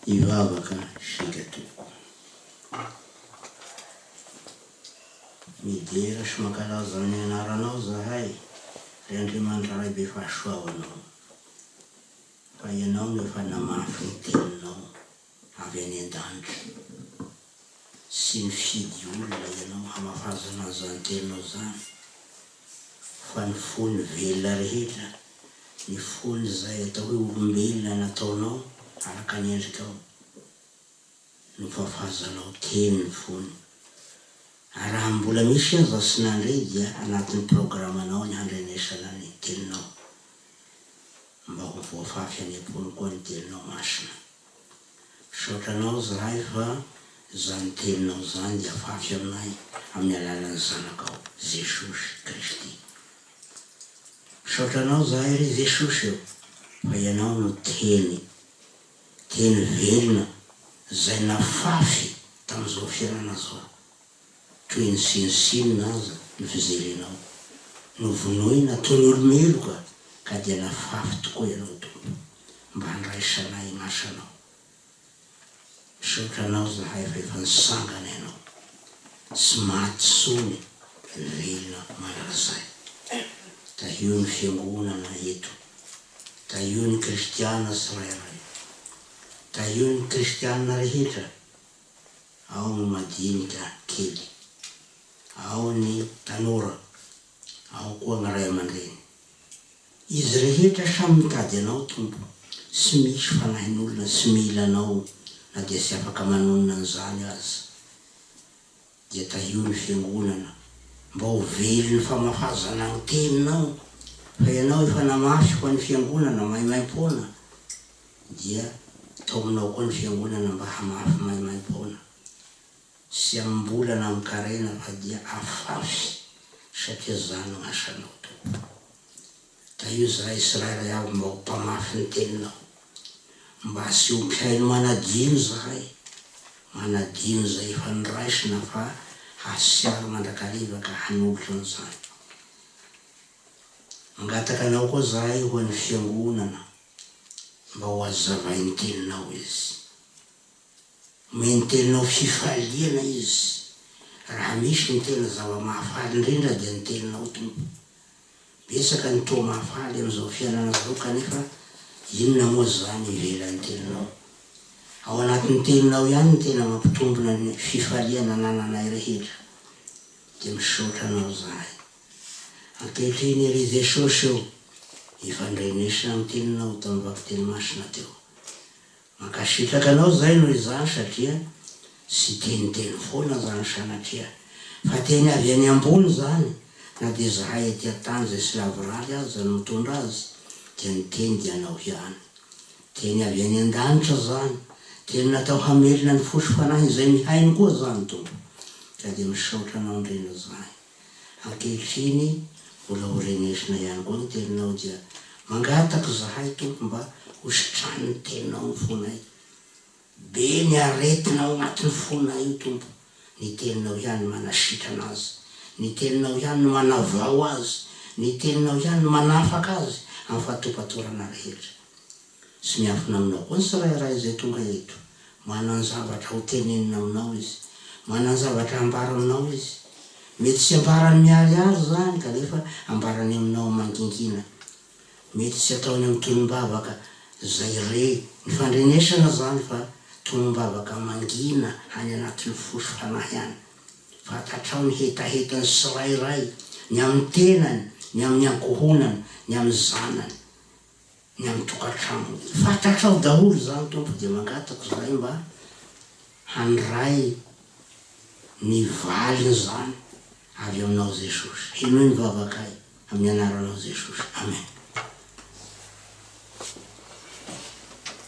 Hivavaka isika tompoko. Midera sy mankalaza ny anaranao zahay ry Andriamanitra Ray be fahasoavanao fa ianao no efa namafy ny teninao avy any an-danitra. Tsy mifidy olona ianao hamafazana zany teninao zany fa ny fon'ny velona rehetra, ny fon'izay atao hoe olombelona nataonao araka ny endrikao no fafazanao teny ny fony. Araha mbola misy aza tsy nandre dia anatin'ny programanao ny handrenesana ny teninao mba ho voafafy any am-pony koa ny teninao masina. Misaotra anao zahay fa izany teninao izany hiafafy aminay amin'ny alalan'ny zanakao Jesosy Kristy. Misaotra anao zahay ry Jesosy o fa ianao no teny, teny velona izay nafafy tamin'izao fiainana izao. Toy ny sinosinona aza ny fijerenao. Novonoina toy ny olo-meloka ka dia nafafy tokoa ianao Tompo mba handraisanay i Masanao. Misaotra Anao zahay fa efa nisangana Ianao. Tsy maty tsony velona mandrakizay. Tahio ny fiangonana eto. Tahio ny kristiana tsirairay. Tahio ny kristiana rehetra. ao ny madinika kely, ao ny tanora, ao koa ny ray aman-dreny. Izy rehetra samy mitady Anao, Tompo. Tsy misy fanahin'olona tsy mila Anao na dia tsy afaka manonona an'izany aza. Dia tahio ny fiangonana mba ho velon'ny famafazana ny teninao, fa ianao efa namafy ho an'ny fiangonana maimaim-poana, dia taominao koa ny fiangonana mba hamafy maimaim-poana, tsy amim-bola na amin-karena fa dia afafy satria izany no asanao tokoa. Ka io izahay tsirairay avy mba ho mpamafy ny teninao. Mba asio mpihaino manadino izahay, manadino izay efa noraisina fa hasiaro mandrakariva ka hanolotra an'izany. Mangataka anao koa izahay ho an'ny Fiangonana mba ho hazavain'ny teninao izy. Mino tena ho fifaliana izy. Raha misy ny tena zava-mahafaly indrindra dia ny teninao Tompo. Betsaka ny toa mahafaly amin'izao fiainana izao kanefa inona moa izany ivelan'ny teninao? Ao anatin'ny teninao ihany no tena mampitombina ny fifaliana anananay rehetra. Dia misaotra anao izahay. Ankehitriny ery Jesosy o, efa nidrenesina amin'ny teninao tamin'ny vakiteny masina teo. Mankasitraka anao zay noho izany satria tsy teniteny foana zany sanatria fa teny avy any ambony zany na dia zahay ety antany zay tsy lavorary aza no mitondra azy dia ny teny dia anao hiany teny avy any andanitra zany teny natao hamelona ny fo sy fanahy izay mihaino koa zany tompo ka dia misaotra anao ndrindra zany Ankehitriny mbola ho renesina ihany koa ny teninao dia mangataka izahay Tompo mba ho sitranin'ny teninao ny fonay. Be ny aretina ao anatin'ny fonay io Tompo, ny teninao ihany no manasitrana azy, ny teninao ihany no manavao azy, ny teninao ihany no manafaka azy amin'ny fahatopatorana rehetra. Tsy miankina aminao koa ny tsirairay izay tonga eto. Manan-javatra ho tenenina aminao izy. Manan-javatra hambara aminao izy. Mety tsy ambarany miharihary izany kanefa ambarany aminao mangingina. Mety tsy ataony amin'ny tonom-bavaka izay re ny fandrenesana izany fa tonom-bavaka mangina any anatin'ny fo sy fanahy any. Fantatrao ny hetahetan'ny tsirairay, ny amin'ny tenany, ny amin'ny ankohonany, ny amin'ny zanany. ny amin'ny tokantranony. Fantatrao daholo izany Tompo dia mangataka Izahay mba handray ny valin'izany avy Aminao Jesosy. Henoy ny vavakay amin'ny Anaranao Jesosy. Amen.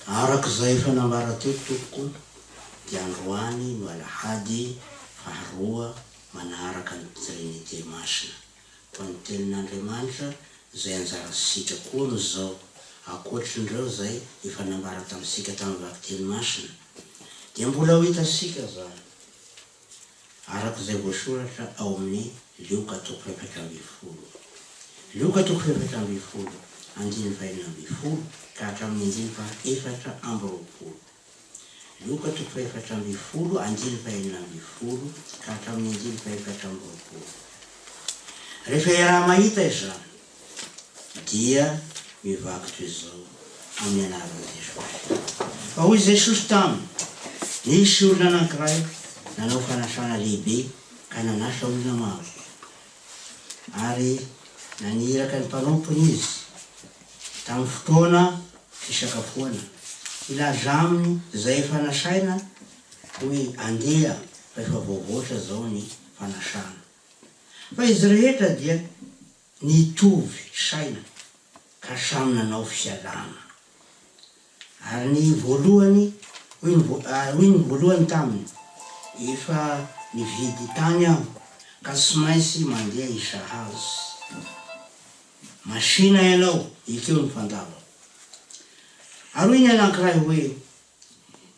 Araka izay efa nambara teto Tompoko dia androany no Alahady faharoa manaraka ny Trinite Masina. toa ny Tenin'Andriamanitra izay anjara sitra koa amin'izao. Ankoatrin'ireo izay efa nambara tamintsika tamin'ny Vakiteny Masina, dia mbola ho hitantsika izany araka izay voasoratra ao amin'ny Lioka toko efatra ambin'ny folo. Lioka toko efatra ambin'ny folo, andininy fahenina ambin'ny folo ka hatramin'ny andininy faha efatra amby roapolo. Vokatry ny fahefatra ambin'ny folo anjely fahenina ambin'ny folo ka hatramin'ny anjely fahefatra amby roapolo. Rehefa iaraha-mahita izany, dia mivaky toy izao amin'ny anaran'i Jesosy. Fa hoy Jesosy taminy, Nisy olona anankiray nanao fanasana lehibe ka nanasa olona maro. ary naniraka ny mpanompony izy tamin'ny fotoana fisakafoana. Hilaza aminy izay efa nasaina hoe andeha rehefa voavoatra izao ny fanasana. Fa izy rehetra dia nitovy saina ka samy nanao fialana. Ary ny voalohany, hoy ny voa, ary hoy ny voalohany taminy, Efa nividy tany aho, ka tsy maintsy mandeha hisahazo. Masìna ianao, ekeo ny fandavako. Ary hoy ny anankiray hoe,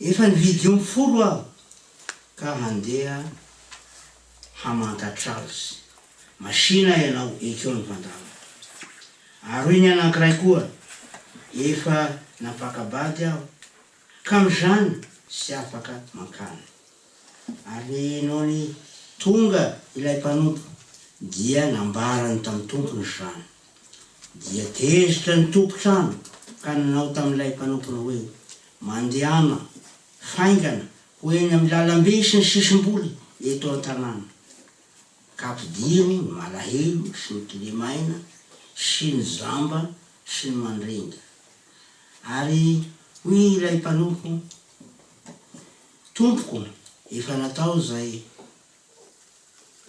Efa nividy omby folo aho, ka handeha hamantatra azy. Masìna ianao, ekeo ny fandavako. Ary hoy ny anankiray koa, Efa nampaka-bady aho, ka amin'izany tsy afaka mankany. Ary nony tonga ilay mpanompo, dia nambarany tamin'ny tompony izany. Dia tezitra ny tompon-trano ka nanao tamin'ilay mpanompony hoe, Mandehana faingana ho eny amin'ny lalambe sy ny sisim-boly eto an-tanàna, ka ampidiro ny malahelo sy ny kilemaina sy ny jamba sy ny mandringa. Ary hoy ilay mpanompo, Tompoko, efa natao izay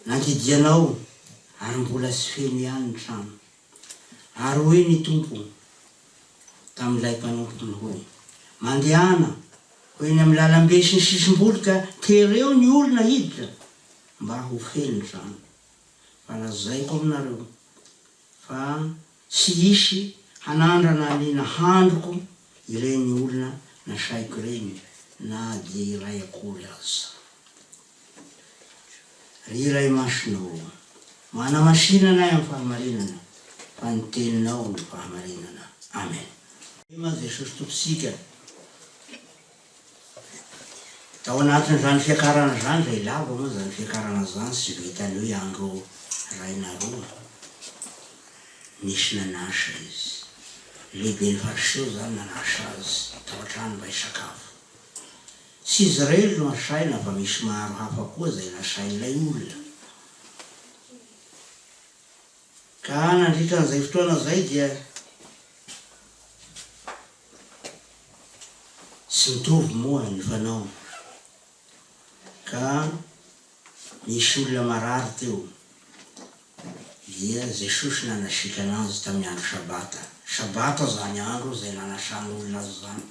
nandidianao ary mbola tsy feno ihany ny trano. Ary hoy ny Tompo tamin'ilay mpanompony hoe, Mandehana ho eny amin'ny lalambe sy ny sisim-boly ka tereo ny olona hiditra Mba ho feno izany. Fa lazaiko aminareo, fa tsy hisy hanandrana ny nahandroko ireny olona nasaiko ireny na dia iray akory aza. Ry Iray Masina ô, manamasinana ahy amin'ny fahamarinana, fa ny Teninao no fahamarinana. Amen. Ema Jesosy Tompontsika. Tao anatin'izany fiakarana izany izay lava moa izany fiakarana izany sy vita an'io i Andro Rainaroa. Nisy nanasa izy. Lehiben'ny fariseho izany nanasa azy tao an-trano mba hisakafo. Tsy izy irery no asaina fa misy maro hafa koa izay nasain'ilay olona. Ka nandritra an'izay fotoana izay dia. Tsy mitovy moa ny fanaony ka nisy olona marary teo dia Jesosy nanasitrana azy tamin'ny andro sabata. Sabata izany andro izay nanasana olona azy izany.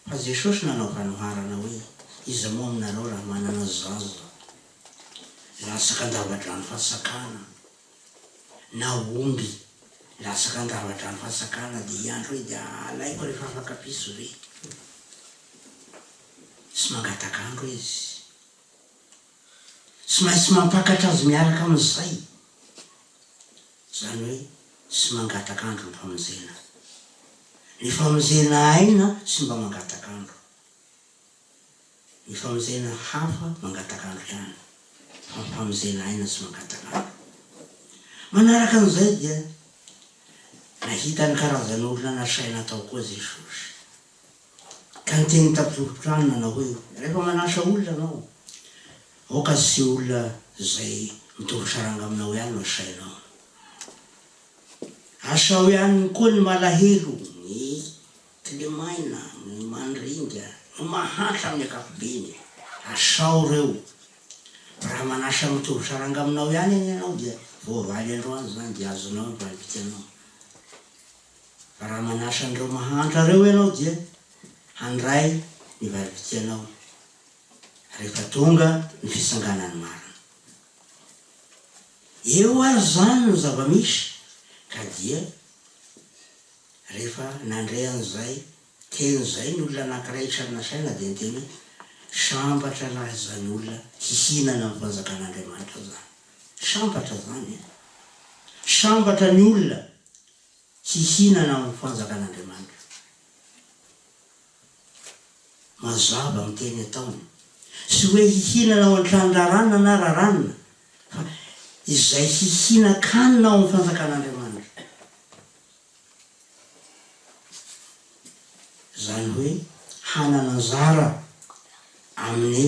Fa Jesosy nanao fanoharana hoe, Iza moa aminareo raha manana zaza latsaka an-dava-drano fatsakana, na omby na sakan-davadrano fatsakana dia iandry hoe dia alaiko rehefa afaka piso ve? sy mangataka andro izy. Tsy maintsy mampakatra azy miaraka amin'izay, izany hoe tsy mangataka andro ny famonjena. Ny famonjena aina tsy mba mangataka andro. Ny famonjena hafa mangataka hanintrano, fa ny famonjena aina tsy mangataka andro. Manaraka an'izay dia nahita ny karazan'olona nasaina hatao koa Jesosy. Ka niteny tampovoron-trano nanao hoe, Rehefa manasa olona ianao, aoka tsy olona izay mitovy saranga aminao ihany no asainao. Asao ihany koa ny malahelo, ny. Tlemaina, ny mandringa, no mahantra amin'ny ankapobeny. Asao reo. Raha manasa mitovy saranga aminao ihany anie ianao dia voavaly androany izany dia azonao ny valim-pitianao. Fa raha manasa an'ireo mahantra reo ianao dia handray ny valim-pitianao rehefa tonga ny fitsanganan'ny marina. Eo ary izany ny zava-misy ka dia Rehefa nandre an'izay teny izay ny olona anankiray isan'ny nasaina dia niteny hoe, Sambatra lahy izany olona hihinana ny fanjakan'Andriamanitra izany. Sambatra izany e! Sambatra ny olona hihinana amin'ny fanjakan'Andriamanitra. Mazava ny teny ataony. Tsy hoe hihinana ao an-tranon-draharahana na raharahana fa izay hihinan-kanina ao amin'ny fanjakan'Andriamanitra. Izany hoe hanana anjara amin'ny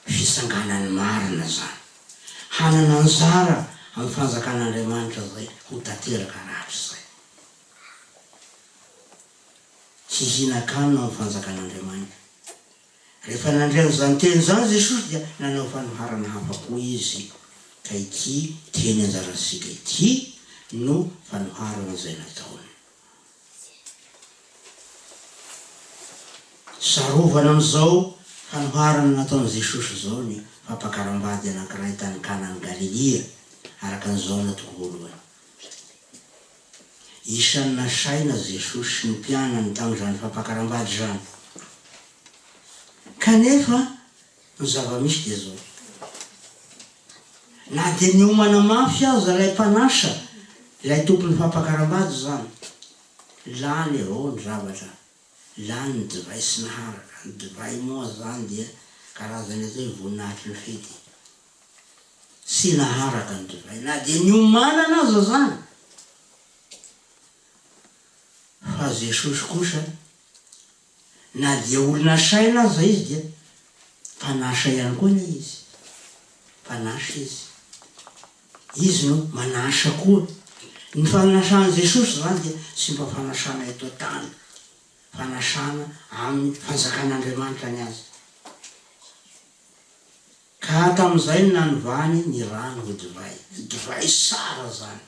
fitsanganan'ny marina izany. Hanana anjara amin'ny fanjakan'Andriamanitra izay ho tanteraka rahatrizay. Hihinan-kanina amin'ny fanjakan'Andriamanitra. Rehefa nandre an'izany teny izany Jesosy dia nanao fanoharana hafa koa Izy, ka ity teny anjarantsika ity no fanoharana izay nataony. Sarovana amin'izao fanoharana nataon'i Jesosy izao ny fampakaram-bady anankiray tany Kanan'i Galilia, araka ny Jaona toko voalohany. Isan'ny nasaina Jesosy sy ny mpianany tamin'izany fampakaram-bady izany. Kanefa ny zava-misy dia izao, na dia niomana mafy aza ilay mpanasa, ilay tompon'ny fampakaram-bady izany, lany avao ny zavatra, lany ny divay sy naharaka, ny divay moa izany dia karazana izay voninahitry ny fety, sy naharaka ny divay na dia niomanana aza zany. Fa Jesosy kosa na dia olona saina aza izy dia mpanasa ihany koa anie izy. Mpanasa izy. Izy no manasa koa. Ny fanasan'i Jesosy zany dia tsy mba fanasana eto an-tany. Fanasana amin'ny fanjakan'Andriamanitra ny azy. Ka tamin'izay no nanovany ny rano ho divay, ny divay sara izany.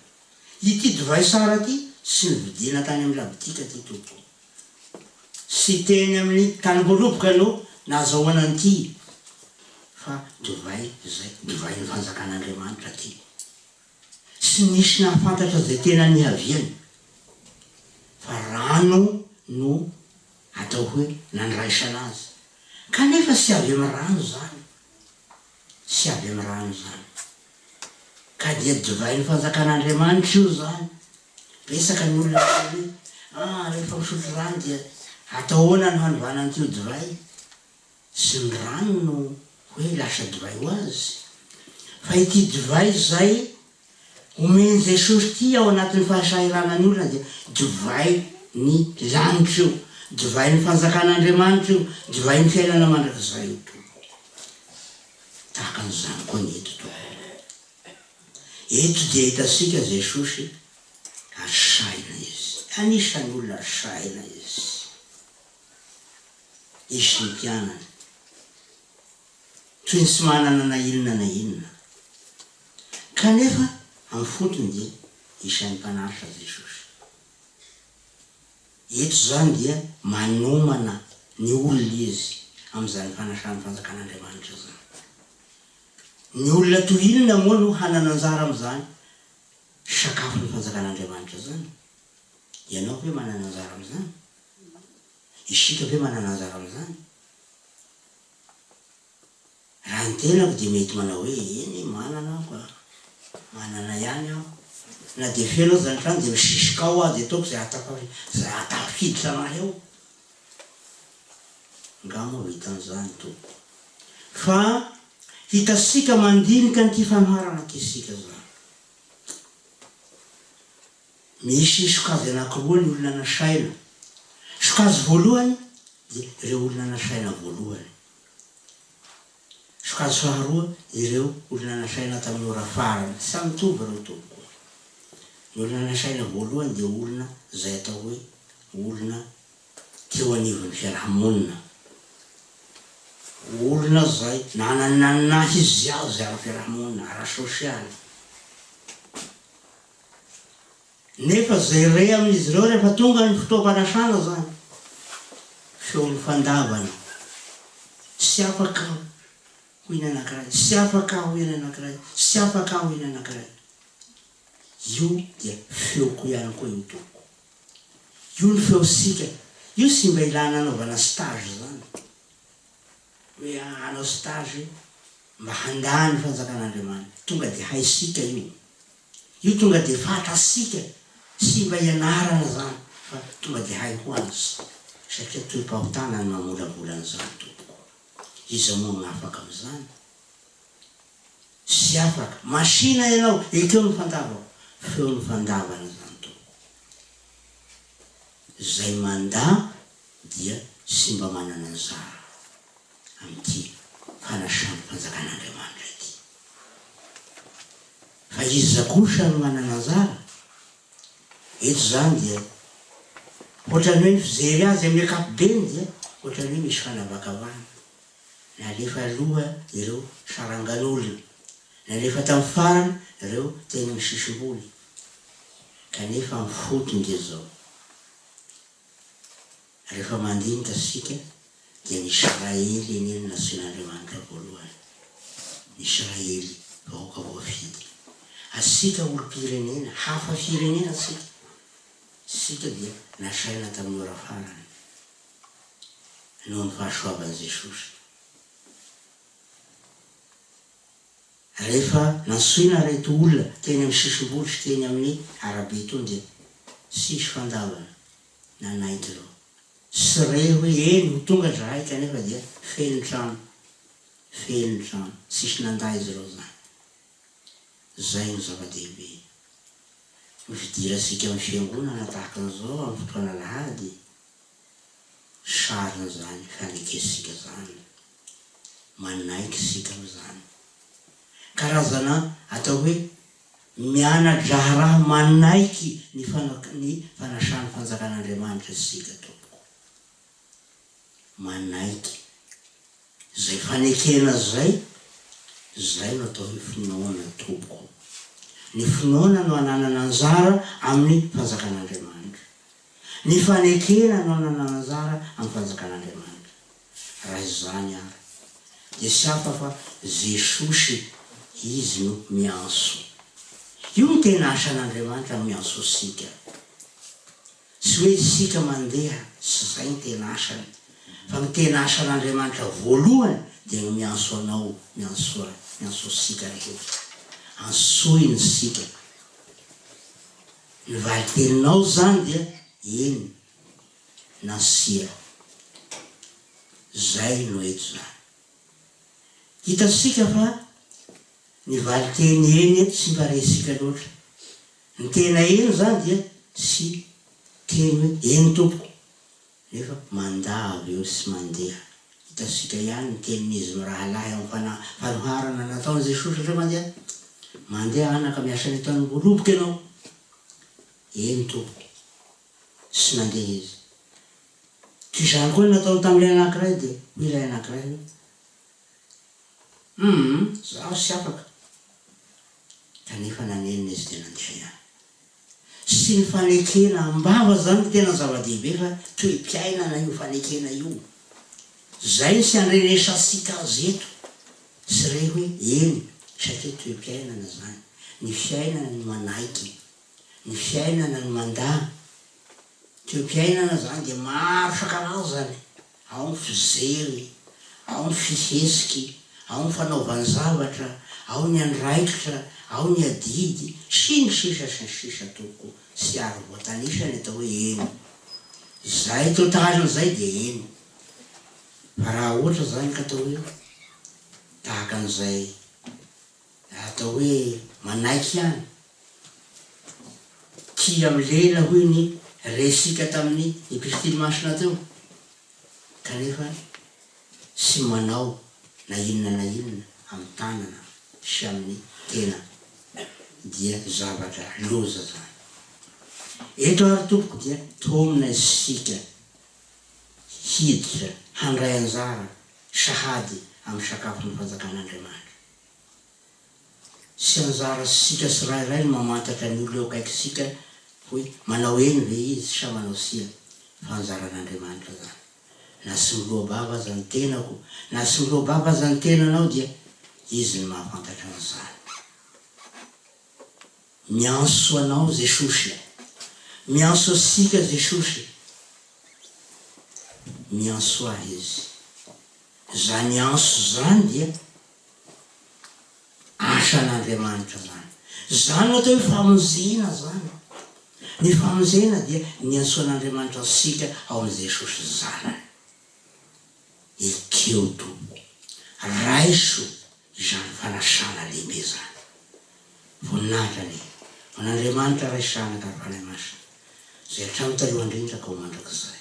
Ity divay sara ity sy novidiana tany amin'ny labotika ity tompoko, sy teny amin'ny tanimboaroboka no nahazahoana an'ity, fa divay izay, divain'ny fanjakan'Andriamanitra ity. Tsy nisy nahafantatra izay tena nihaviany, fa rano no Atao hoe nandraisana azy. Kanefa tsy avy amin'ny rano izany. Tsy avy amin'ny rano izany. Ka dia divain'ny Fanjakan'Andriamanitra io izany. Betsaka ny olona miteny hoe, Ah, rehefa misotro rano dia atao ahoana ny hanovana an'ity ho divay? sy ny rano no hoe lasa divay ho azy, fa ity divay izay omen'i Jesosy ity ao anatin'ny fahasahiranan'ny olona dia divay ny lanitra io, divay ny fanjakan'Andriamanitra io, divay ny fiainana mandrakizay io tompoko. Tahaka an'izany koa ny eto tompoko. Eto dia hitantsika Jesosy ary sahina izy, anisan'ny olona sahina izy. hisy ny mpianany toy ny tsy manana na inona na inona. Kanefa amin'ny fotony dia isan'ny mpanaritra Jesosy. Eto izany dia manomana ny olona Izy amin'izany fanasan'ny fanjakan'Andriamanitra izany. Ny olona toy inona moa no hanana anjara amin'izany sakafon'ny fanjakan'Andriamanitra izany? Ianao ve manana anjara amin'izany? I Shito ve manana anjara amin'izany? Raha ny tenako dia mety manao hoe, eny manana aho fa manana ihany aho. Na dia feno aza ny trano dia misisika ao aho dia ataoko izay ahatafiditra an'ahy ao. Angaha moa vitan'ny izany Tompo. Fa hitantsika mandinika an'ity fanoharana antsika izany. Misy sokajy anankiroa ny olona nasaina. Sokajy voalohany dia ireo olona nasaina voalohany. Sokajy faharoa ireo olona nasaina tamin'ny ora farany. Tsy samy mitovy ireo tompoko. Ny olona nasaina voalohany dia olona izay atao hoe olona teo anivon'ny fiaraha-monina. Olona izay nanana ny naha izy azy amin'ny fiaraha-monina, ara-sosialy. nefa izay re amin'izy ireo rehefa tonga ny fotoam-panasana izany, feon'ny fandavana, tsy afaka aho, hoy ny anankiray, tsy afaka aho, hoy ny anankiray, tsy afaka aho, hoy ny anankiray. Io dia feoko ihany koa iny Tompoko. Io ny feontsika, io tsy mba ilana anaovana stage izany, hoe hanao stage mba handà ny fanjakan'Andriamanitra, tonga dia haintsika io. Io tonga dia fantatsika sy mba ianarana izany fa tonga dia hay ho azy satria tohim-pahotana ny mamolavola an'izany tompoko. Iza moa no afaka amin'izany? Tsy afaka. Masina ianao, ekeo ny fandavako. Feo ny fandavana izany tompoko. Izay mandà dia tsy mba manana zara amin'ity fanasan'ny fanjakan'Andriamanitra ity. Fa iza kosa no manana anjara? Eto izany dia hoatran'ny hoe ny fijery azy amin'ny ankapobeny dia hoatran'ny hoe misy fanavakavahana. Nalefa aloha ireo sarangan'olona, nalefa tamin'ny farany ireo teny amin'ny sisim-boly, kanefa ny fotony dia izao. Rehefa mandinika isika dia ny Israely anie no nasian'Andriamanitra voalohany. Ny Israely, vahoaka voafidy. Asika olom-pirenena, hafa firenena isika. Isika dia nasaina tamin'ny ora farany, noho ny fahasoavan'i Jesosy. Rehefa nantsoina ireto olona teny amin'ny sisim-bohitra teny amin'ny arabe tony dia tsisy fandavana. nanaiky ireo. Sy re hoe eny ho tonga zahay kanefa dia feno trano feno trano tsisy nanda izy ireo zany. Zay no zava-dehibe. Ny fidirantsika amin'ny fiangonana tahaka an'izao amin'ny fotoana alahady sarin'izany fanekentsika zany. Manaiky isika amin'izany. Karazana atao hoe Miana-draharaha manaiky ny fanasan'ny Fanjakan'Andriamanitra isika, tompoko. Manaiky. Izay fanekena izay, izay no atao hoe finoana, tompoko. Ny finoana no ananana anjara amin'ny Fanjakan'Andriamanitra. Ny fanekena no ananana anjara amin'ny Fanjakan'Andriamanitra. Raha izany ary, dia tsy hafa fa Jesosy Izy no miantso. Io no tena asan'Andriamanitra miantso antsika. Tsy hoe isika mandeha, tsy izay ny tena asany, fa ny tena asan'Andriamanitra voalohany dia ny miantso anao, miantso ahy, miantso antsika rehetra. Antsoiny isika. Ny valin-teninao izany dia, Eny. na sira. Zay no eto zany. Hitantsika fa ny valinteny eny eto tsy mba resintsika loatra. Ny tena eny zany dia tsy teny hoe eny tompoko nefa mandà avy eo sy mandeha. Hitantsika ihany ny tenin'izy mirahalahy amin'ny fanahy fanoharana nataon'i Jesosy satria mandeha, Mandeha anaka miasa any an-tanimboly roboka ianao. Eny tompoko. sy nandeha izy. Toy izany koa ny nataony tamin'ilay anankiray, dia hoy ilay anankiray hoe, Humm, izaho ary tsy afaka. Kanefa nanenina izy dia nandeha ihany. Tsy ny fanekena am-bava izany no tena zava-dehibe fa toe-piainana io fanekena io. Izay tsy andrenesantsika azy eto sy re hoe, eny, satria toe-piainana izany, ny fiainana ny manaiky Ny fiainana no mandà. Toepiainana zany dia maro isan-karazany, ao ny fijeriny, ao ny fihesiky, ao ny fanaovany zavatra, ao ny andraikitra, ao ny adidy, sy ny sisa sy ny sisa Toko tsy ary voatanisa ny atao hoe eny. Zay totaliny zay dia eny. Fa raha ohatra zany ka atao hoe tahaka an'izay. Atao hoe manaiky ihany. Tia milela hoy ny resika tamin'ny epistily masina teo, kanefa tsy manao na inona na inona amin'ny tanana sy amin'ny tena dia zavatra loza izany. Eto ary tompoko dia tomina isika hiditra handray anjara sahady amin'ny sakafon'ny fanjakan'Andriamanitra. Tsy anjara sika tsirairay ny mamantatra ny olona eo akaikitsika hoe manao eny ve izy sa manao tsia fa anjaran'Andriamanitra zany. Na tsy miloa-bava aza ny tenako na tsy miloa-bava aza ny tenanao dia Izy no mahafantatra an'izany. Miantso anao Jesosy a! Miantso antsika Jesosy. Miantso ahy Izy. Izany anse izany dia asan'Andriamanitra izany. Izany no atao hoe famonjena izany. Ny famonjena dia niantsoan'Andriamanitra antsika ao amin'i Jesosy Zanany. Ekeo Tompo, raiso izany fanasana lehibe izany. Voninahitra anie ho an'Andriamanitra Ray sy Zanaka ary Fanahy Masina, izay hatrany talohan-drindra ka ho mandrakizay.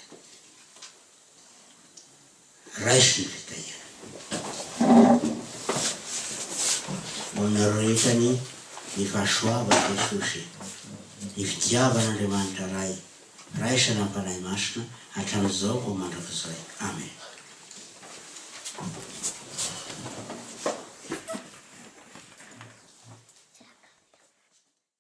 Raiso ny fitahiana ho aminareo rehetra ny ny fahasoavan'i Jesosy, ny fitiavan'Andriamanitra Ray raisana amin'ny Fanahy Masina hatramin'izao ho mandrakizay. Amen.